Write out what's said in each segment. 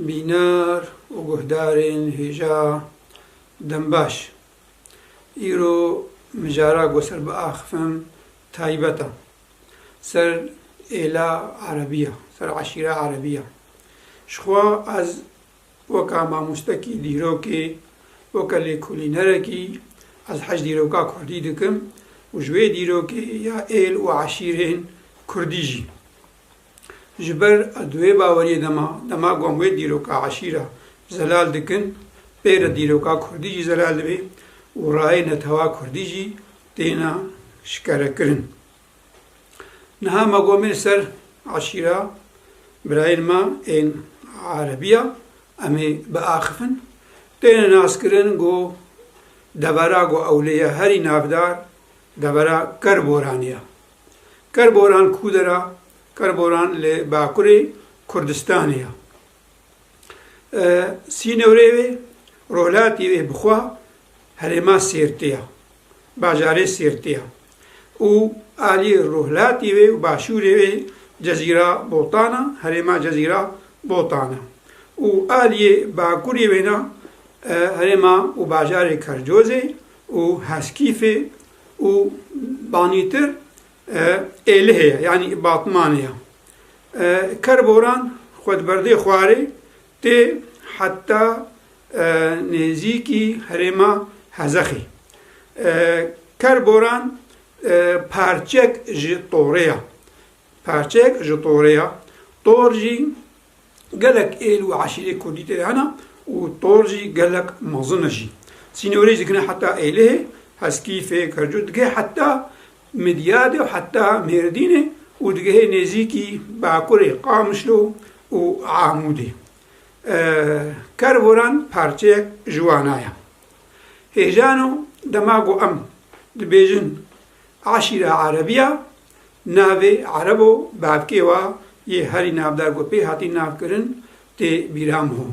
Bînar û guhdarên hêja dembaş, îro mijara ku ser biaxivim taybet e. Ser êla erebî ye, ser eşîra erebî ye. Ji xwe ez weka mamostekî dîrokê, weke lêkolînerekî ez hej dîroka kurdî dikim û ji wê dîrokê ya êl û eşîrên kurdî jî. Ji ber di wê baweriyê de me, dema ku em wê dîroka eşîra zelal dikin, pê re dîroka kurdî jî zelal dibê û rayê netewa kurdî jî têne şikerekirin. Niha me gomîn li ser eşîra birayên me ên erebî ya, em ê biaxifin. Têne naskirin ku devera ku ew lê ye herî navdar devera Kerboranê ye. Kerboran kûdera Kerboran li Bakurê Kurdistanê ye. Sînorê wê, rojhilatî wê bi xwe herêma Sêrtê ye, bajarê Sêrtê ye û aliyê rojhilatî wê û başûrê wê Cezîra Botan e, herêma Cezîra Botan e û aliyê bakurê wê ne herêma û bajarê Kercozê û Heskîfê û banîtir Êlihê ye yanî Batmanê ye. Kerboran xwe di berdê xwarê tê heta nêzîkî herêma Hezexê. Kerboran parçek ji torê ye. Parçeyek ji torê ye. Tor jî. Gelek êl û eşîrê kurdî tê de hene û tor jî gelek mezin e jî. Sînorê jî dikine heta Êlihê, Heskî, Fêk, Hercû digihê heta Midyadê û heta Mêrdînê û digihê nêzîkî bakurê Qamişlo û Amûdê. Kervoran parçeyek ji wana ye. Hêjano dema ku em dibêjin Aşîra Erebî ya, navê Erebo bavkê wa yê herî navdar ku pê hatî navkirin tê bîra min ho.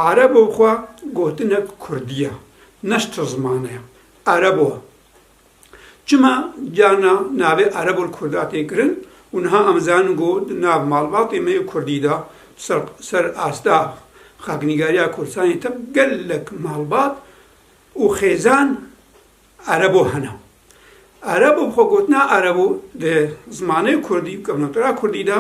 Erebo xwe gotinek kurdî ya, ne ji tu zimane ya. Erebo e. Çima carna navê Erebo li kurda tê kirin û niha em zanin ku di nav malbatê me yê kurdî de ser ser asta xaknîgariya Kurdistanê tep gelek malbat û xêzan Erebo hene. Erebo bi xwe gotina Erebo di zimanê kurdî û kevnakira kurdî de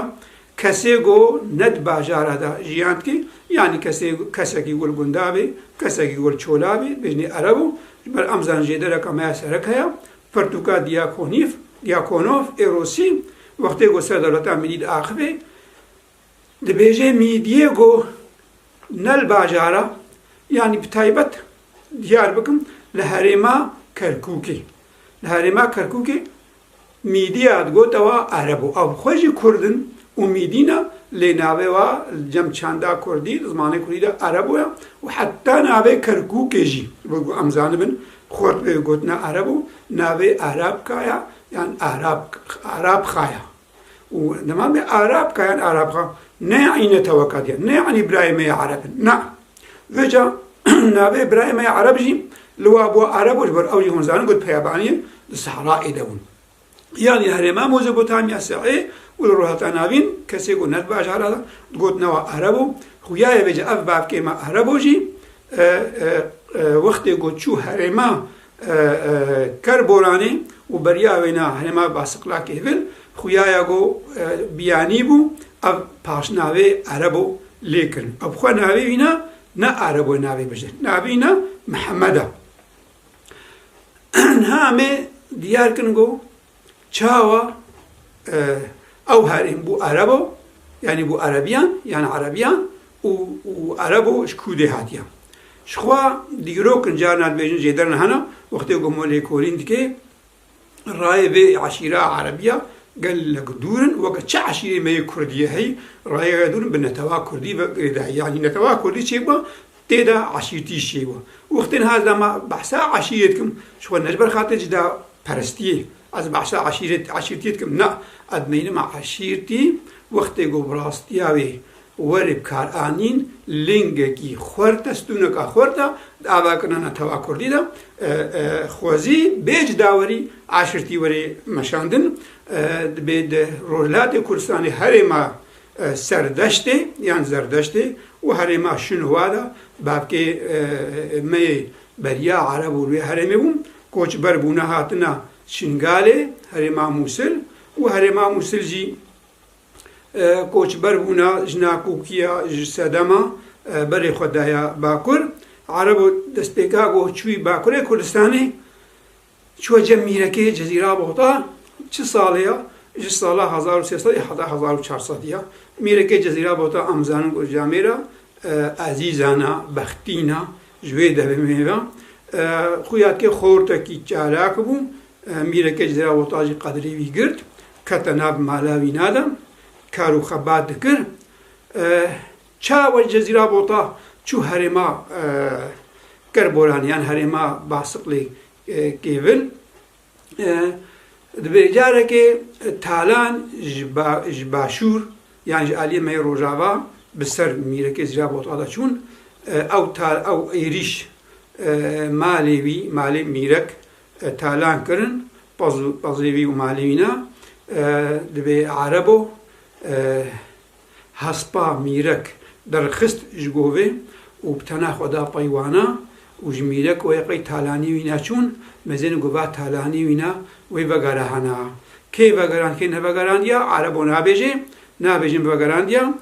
kesê ku ne di bajara de jiyan dike yanî kesê kesekî ku li gunda bê, kesekî ku li çola bê bêjinê Erebo. Ji ber em zanin jêdereka me ya serek heye Pirtûka Diyakonîf, Diyakonov, ê Rûsî wextê ku ser dewleta Mîlî diaxivê, Dibêje mîdiyê ku ne li bajara yanî bi taybet diyar bikim li herêma Kerkûkê. Li herêma Kerkûkê mîdiya digote wa ereb û ew xwe jî kurd in û mîdî ne lê navê wa li cem çanda kurdî li zimanê kurdî de erebo ye û heta navê Kerkûkê jî wek ku em zanibin xurt pê gotina erebo navê Arabka ye yan Arabkha ye. û dema me Arab kayan Arab xwe neyanîne teweka diyan, neyanî birayê me ya Arab in. Na, veca navê birayê me ya Arab jî li wa bû Arab û ji ber ew jî hûn zanin ku peyabaniyê di Sehrayê de bûn. Yan li herêma Mozopotamiya Se'ê û li rojhilata navîn kesê ku ne di bajara de digot ne wa Arab o. Xuyaye vêca ev bavkê me Arab o jî wextê ku çû herêma Ker Boranê û beriya wêna herêma Basiqlakê vir xuyaya go Biyanî bû ev paşnavê erebo lê kirin. Ev xwe navê wîna ne erebo ye navê bijîr. Navê wîna Mihemed e. Niha em ê diyar kirin go Çawa ew herîm bû erebo yanî bû erebiyan yan erebiyan û û erebo ji kûdê hatiya. Jixwe dîrokin carna dibêjin jêderin hena wextê ku hema lêkolîn dike rayê vê eşîra erebiya gelek dûr in weke çi eşîrê me yê kurdî ye heyî rayê gelek dûr in bi netewa kurdî ve girêdayî yanî netewa kurdî çêbû Tê de eşîrtî şêwa. Wextên haz da me behsa eşîrê dikim ji xwe ne ji ber xatirê cida perestiyê ez behsa eşîrê eşîrtiyê dikim na ez meynima eşîrtî wextê ku bi rastiya wê werê bi kar anîn lingekî xwerte stûneka xwerte di ava kinana tava kurdî de xwezî bê cida werî eşîrtî werê meşandin dibê di rojhilatê kurdistanê herêma Serdeştê yan Zerdeştê û herêma Şinwa de bavkê me yê beriya Ereb û li wê herêmê bûn, koçber bûne hatine Şingalê, herêma Mûsil û herêma Mûsil jî koçber bûne ji Nakûkiya, ji Sedema berê xwe daye Bakur. Ereb destpêka goh çûyî Bakurê Kurdistanê. Çiwa cem mîrekê Cezîra Boxda çi salê ya? Ji sala hezar û sê sed ê heta hezar û çar sed ya. Mîrekê Cezîra Boxda em zanin ku ji amê re ezîzan e, bextîn e. Ji wê devê ve xuya kê xortekî çalak bû. Mîrekê Cezîra Boxda jî qedrê wî girt. Kete nav mala wîna de. Kar û xebat dikir. Çawa wê Cezîra Bota çû herêma Kerboran yan herêma Basiqlî kêvil. Divê carekê talan ji başûr yan ji aliyê me yê rojava bi ser mîrekê Zîra Bota de çûn. Ew tal ew êrîş malê wî, malê mîrek talan kirin. Pez û pezê wî û malê wî ne divê erebo. Hespa Mîrek derxist ji bo vê û bi tena xwe da peywana û ji Mîrek wê qey talanî wî neçûn, mezin gova talanî wî ne wê vegerahana. Kê vegerand kê nevegerandiya erebo nabêjê, nabêjin vegerandiya.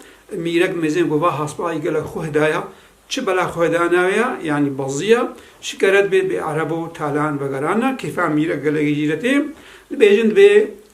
Mîrek mezin gova hespa yê gelek xwe daya, çi bela xwe da navê ya, yanî beziya, şikeret bê bê erebo talan vegerana. Kêfa Mîrek gelekî jî retê, dibêjin divê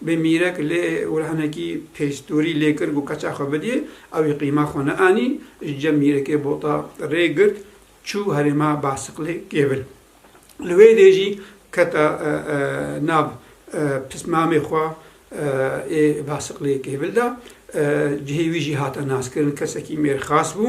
Bi mîrek lê wir hinekî pêstûrî lê kir ku keça xwe bidî, ewî qîma xwe neanî, ji cem mîrekê bota rê girt çû herêma Basiqlê kêvil. Li wê dê jî kete nav pismamê xwe ê Basiqlê kêvil de. Cihê wî jî hate naskirin, kesekî mêrxas bû.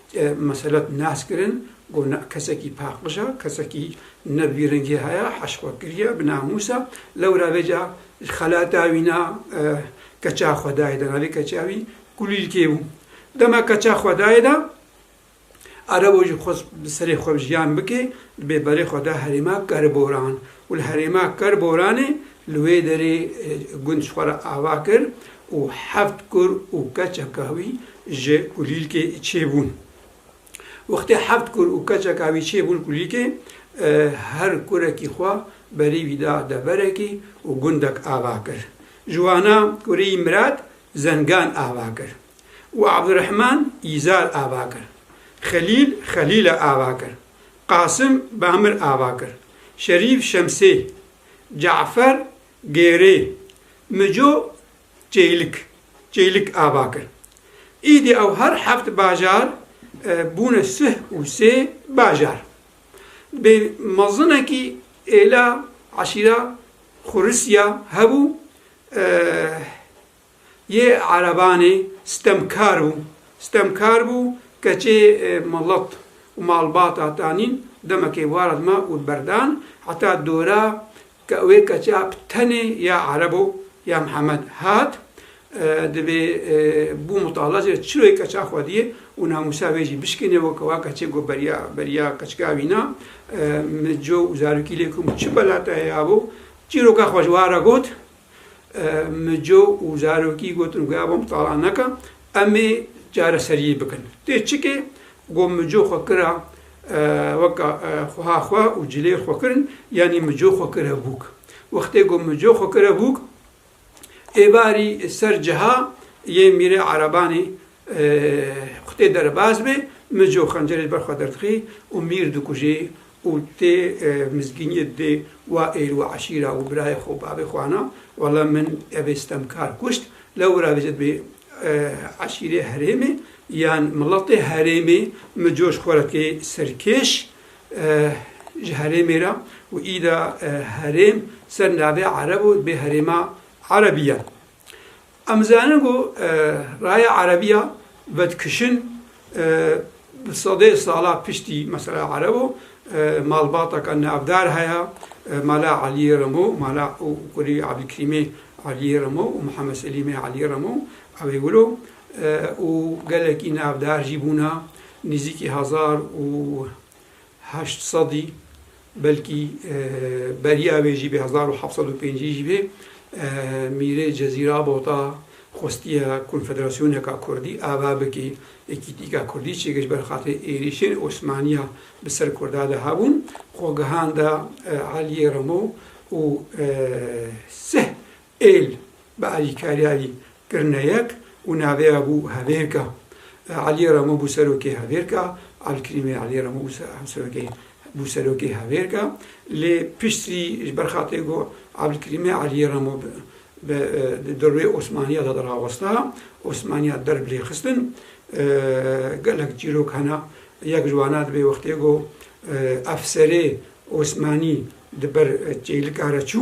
Meselek nas kirin ku na kesekî paqij e, kesekî ne vî rengê heye, heşxwe kiriye, bi namûs e, lewra vê ca ji xelata wî na keça xwe dayê de, navê keça wî Kulîlkê bû. Dema keça xwe dayê de, erebo jî xwest bi serê xwe jiyan bike, di bêberê xwe de herêma Kerboran. û li herêma Kerboranê li wê derê gund ji xwe re ava kir û heft kur û keçeka wî ji kulîlkê çêbûn. Wextê heft kur û keçeka wî çêbûn kulîlkê, her kurekî xwe berî wî da deverekî û gundek ava kir. Ji wana kureyî Mirad Zengan ava kir û Abdurehman Îzar ava kir. Xelîl Xelîle ava kir. Qasim Bamir Avakir, Şerîf Şemsê, Cafer Gêrê, Mico Çeylik, Çeylik Avakir. Îdî ew her heft bajar bûne sih û sê bajar. Dibê mezinekî êla eşîra Xurisiya hebû Yê erebanê stemkar bû. Stemkar bû keçê milet û malbata tanîn demekê wara dima û berdan heta dora ke wê keça bi tenê ya erebo ya Mihemed hat divê bû mutalaje çirokê keça xwediyê û namûsa wê jî bişkêne weke wa keçê got beriya beriya keçka wîna min co û zarokî lê kum çi belata ye abo çîroka xwe ji wara got Mico û zarokî gotin ku ev em tala neke, em ê çareseriyê bikin. Tê çikê ku mico xwe kira weka xweha xwe û cilê xwe kirin, yanî mico xwe kire bûk. Wextê ku mico xwe kire bûk, êvarî ser ciha yê Mîrê Erebanê xwe tê derbas bê, mico xencerê li ber xwe derdixî û Mîr dikujê û tê mizgîniyê dê wa êr û eşîra û birayê xwe û bavê xwe ana, walla min evê sitemkar kuşt, lewra vê zed bê eşîrê herêmê yan miletê herêmê min coş xwe re tê serkêş ji herêmê re û îda herêm ser navê ereb û dibê herêma erebî ye. Em dizanin ku raya Erebiya vedikişin bi sedê sala piştî mesela Ereb û malbateke navdar heye, Mala Eliyê Remo, Mala û Kurî Ebdulkerîmê Eliyê Remo û Mihemed Selîmê Eliyê Remo ewê wilo û gelekî navdar jî bûne, nîzîkî hezar û heşt sedî belkî beriya wê jî bê hezar û heft sed û pêncî jî bê Mîrê Cezîra Bota xwestiye konfederasyoneka kurdî ava bikî Yekîtîka Kurdî çê kir ji ber xatirê êrîşên Osmaniya bi ser kurda de hebûn xwe gihanda Eliyê Remo û sih Êl bi Elî Karyayî kirine yek û naveya bû Hevêrka. Elî Remo bû serokê Hevêrka, Elkrîmê Elî Remo bû hemserokê bû serokê Hevêrka. Lê piştî ji ber xatirê ku Elkrîmê Elî Remo bi di dirûê Osmaniya de dirawesta, Osmaniya der bi lê xistin. Gelek çîrok hene. Yek ji wana dibê wextê ku efserê Osmanî di ber çêlika re çû.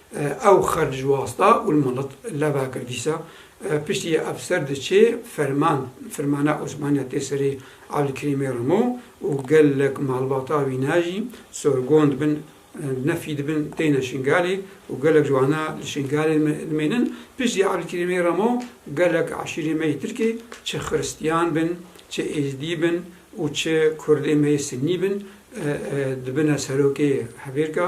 Ew xer ji wasta Ulmalıt, leva kir dîsa. Piştî efser diçê ferman, firmana Osmaniya tê serê Abdulkerîmê rimo û gelek malbata wî ne jî sorgon dibin, nefî dibin têne Şingalê û gelek ji wana li Şingalê dimênin. Piştî Abdulkerîmê rimo gelek eşîrê me yê Tirkê çi xiristiyan bin, çi êzdî bin û çi kurdê me yê sinnî bin dibine serokê hevêrka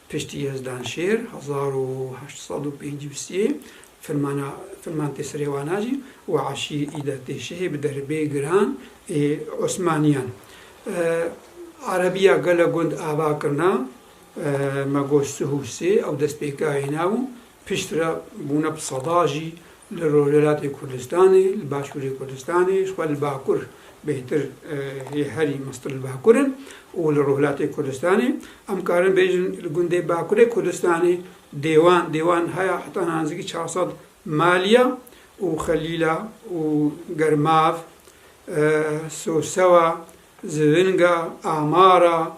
Piştî Yezdanşêr hezar û heşt sed û pêncî û sî firmana firman tê serê wana jî û eşî îde tê şehê bi derbê giran ê Osmaniyan. Erebiya gele gund ava kirina me got Suhûsê ew destpêkayê nabû Piştre bûne bi sedan jî li Rojhilatê Kurdistanê, li Başûrê Kurdistanê jixwe li Bakur bêhtir yê herî mestir li Bakur in û li Rojhilatê Kurdistanê. Em karin bêjin li gundê Bakurê Kurdistanê dêwan dêwan haya heta nanzîkî çar sed maliya û Xelîla û Germav, Sosewa, Zivinga, Amara,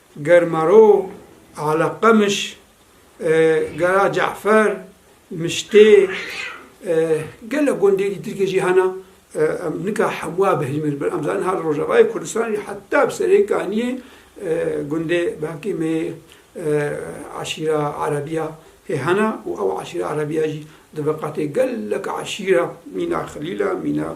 Germaro, Eleqemiş, Gera Ce'fer, Miştê, gelek gundê dî Tirkê jî hene. Em nika hemûa bihîlmin ber em zanin her Rojavayê Kurdistanê jî heta bi serê kaniyê gundê belkî mê eşîra Erebî ya hê hene û ew eşîra Erebî ya jî di veqetê gelek eşîra mîna Xilîl e, mîna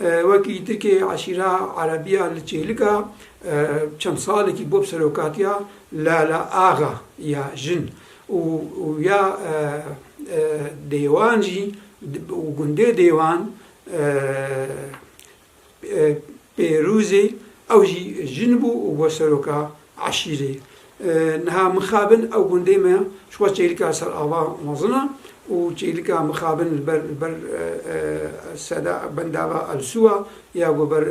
Wek yîtikê eşîra Erebiya li Çêlika çend salekî bû serokatiya Lala Axa ya jin û ya Dêwan jî û gundê Dêwan Pêrûzê ew jî jin bû û bû seroka Eşîrê. Niha Mixabin ew gundê me ji xwe çêlika ser ava mezin e û çêlika Mixabin li ber li ber seda bendava Elsûa ya ku ber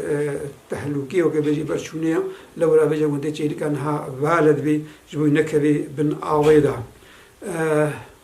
tehlûkê weke bêjî li ber çûnê ye. Lewra vê jî gundê çêlika niha Valed bê ji bo wî nekevê bin avê de.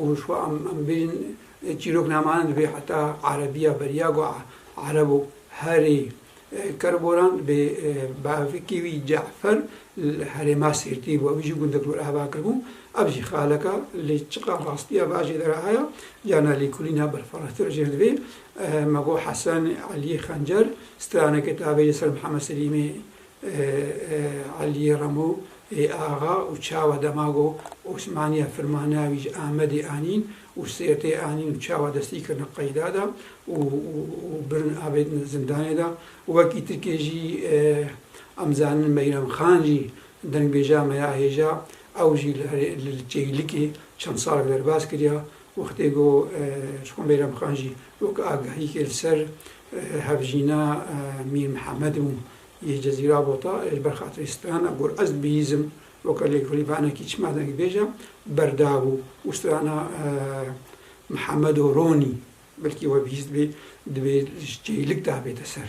û ji xwe em em bêjin çîroknameyan divê heta erebîya beriya ku ereb û herî ker boran divê bavikî wî Ce'fer li herêma Sêrtî bû ew jî gundek li wir ava kir bû ev jî xaleka lê çiqa rastîya bajê de re haya carna lêkolîna berfirehtir jê re divê me got Hesen Elî Xencer straneke tavê li ser Mihemed Selîmê Aliyê Remo yê axa û çawa dema ku Osmaniya firmana wî ji Amedê anîn û Sêrtê anîn û çawa destî kirine qeyda de û birin avêtine zindanê de. Wekî tirkê jî em zanin Meyrem Xan jî dengbêja me ya hêja ew jî li Çeylikê çend salek derbas kiriya. Wextê ku ji xwe Meyrem Xan jî wek agahîkê li ser hevjîna Mîr Mihemed bû. Yê Cezîra Bota ê li ber xatirê strana got, Ez bihîzim weke lêkolîvanekî çima dengê bêj e, berdabû û strana Mihemedo Ronî belkî we bihîz dibe, divê ji çêlik de bête ser.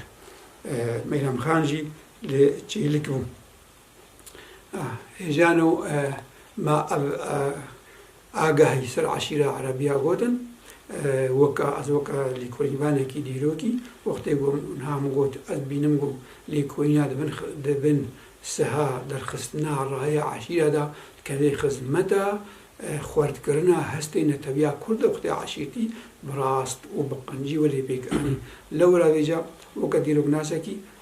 Meyrem Xan jî li çêlik bû. Hêjano ma ev agahî ser eşîra Erebîya gotin. Weka ez weka lêkolînvanekî dîrokî wextê ku niha min got ez bînim ku lêkolîna di bin siha derxistina rayê eşîra de dikeve xizmeta xwertkirina hestê netewîya kurd de wextê eşîrtî bi rast û bi qincî welê pêk anî. Lewra vêca weke dîroknasekî